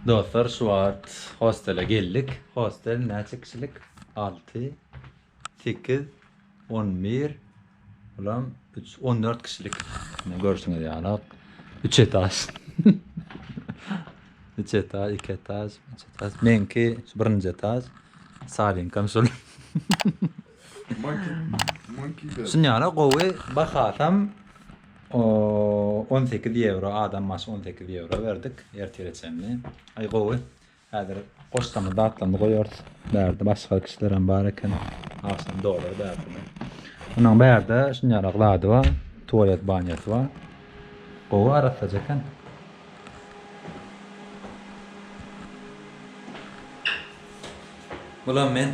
Dostlar şu wagt hostele geldik. Hostel näçe kişilik? Alty, sekiz, on bir, bulam üç, on dört kişilik. Mine görşüňiz ýaly üç etaž. Üç etaž, iki etaž, üç etaž. Meňki birinji etaž. Salinkam şol. Şunyara gowy bahasam on sekiz ýewro adam başy on sekiz ýewro berdik ertire çenli aý gowy häzir goşsamy datlandy goýarys bärde başga kişilerem bar eken agşam dolar bärde munuň bärde şunýarak zady bar tualet banýasy bar gowy arassaja eken bulam men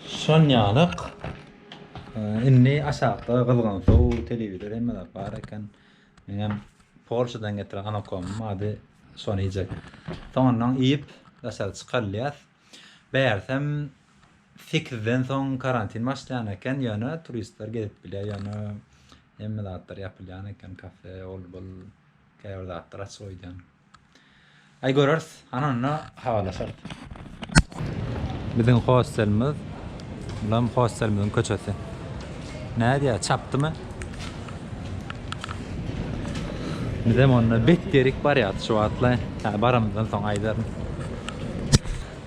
Sonýalyk indi aşakda gyzgyn suw, telewizor hemme zat bar eken. Meňem Polşadan getiren anakomyň bady şony iýjek. Soňundan iýip daşary çykarylýas. Bärsem sekizden soň karantin başlaýan eken, ýöne turistler gezip bilýär, ýöne hemme zatlar ýapylýan eken, kafe, ol-bul. Käbir zatlar açyk öýdýän. Aý göreris. Ana onda habarlaşarys. Biziň hostelimiz. Bulam hostelimiziň köçesi. Nädýä, çapdymy? Bizem onda bet derik barýarys şu wagtla. Hä, baramyzdan soň aýdaryn.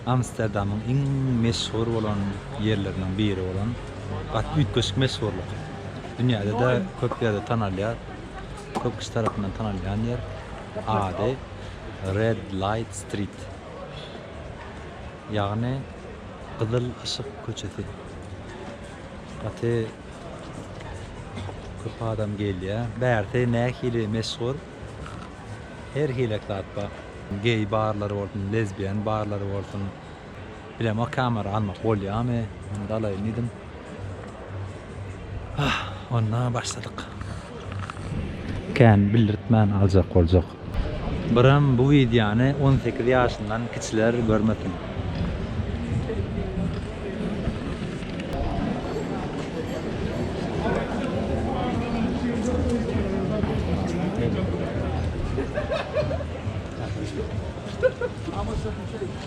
Amsterdamyň iň meşhur bolan ýerleriniň biri bolan, gaty üýtgeşik meşhurlyk. Dünýäde-de köp ýerde tanalýar. Köp kişi tarapyndan tanalýan ýer, ady Red Light Street, ýagny Gyzyl yşyk köçesi. Gaty köp adam gelýär. Bärsi nähili meşhur, her hilek zat bar. Geý barlary bolsun, lezbiýan barlary bolsun, Bilemok kamera almak bolýamy onda alaýyn diýdim. Ah onda başladyk. Kän bildirtmän aljak boljak. Biram bu wideony on sekiz ýaşyndan kiçiler görmesin.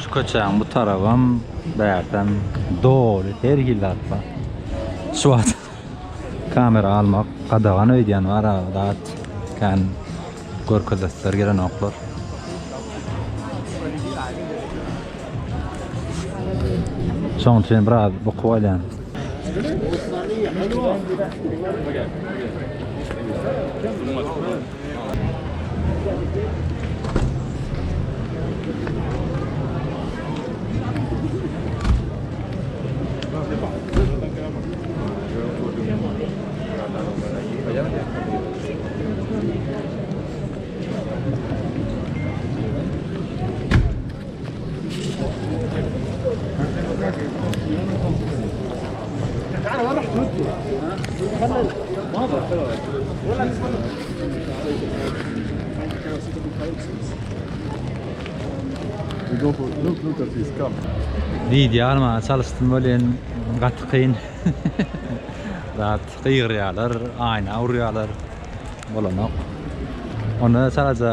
Şu köçäň bu tarabam, bärtem doly her hil zat bar. Şu wagt kamera almak gadagan öýdýän bar a zat kän görkezesler gelenoklar. Şoň üçin biraz bukup alýan. Video almaga çalyşdym welin gaty kyn. Zat gygyrýarlar, aýna urýarlar. Bolanok. Onda çalaja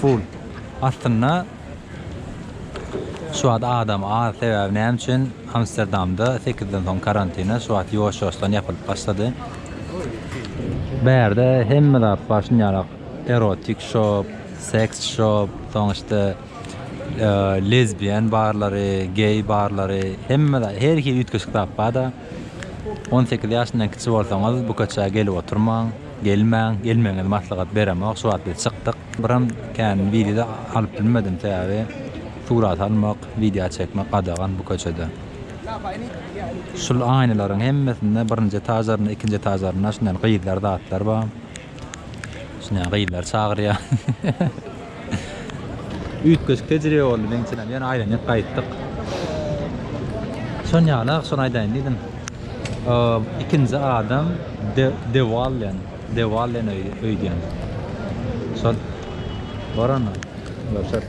Full. Aslynda şu wagt adam az sebäbi näme üçin Amsterdamda sekizden soň karantine şu wagt ýuwaş ýuwaşdan ýapylyp başlady. Bärde hemme zat bar şunýalak erotik şop, seks şop, soň işte lezbiýen barlary, geý barlary hemme zat her hili üýtgeşik zat barda. On sekiz ýaşyndan kiçi bolsaňyz bu köçä gelip oturmaň, gelmäň, gelmegiňizi maslahat beremok, şu wagt biz çykdyk. Biram kän wideo alyp bilmedim sebäbi surat almak, wideo çekmek gadagan bu köçede. Şul aýnalaryň hemmesinde birinji etažlarynda, ikinji etažlarynda şundan gyzlar zatlar bar. Şuny gyzlar çagyrýa. Üýtgeşik tejribe boldy meň üçinem. Ýöne aýlanyp gaýtdyk. Şon ýaly ah şony aýdaýyn diýdim. Ikinji adam De Wallen, De Wallen öýdýän. Şol. Bar onda. Görşeris.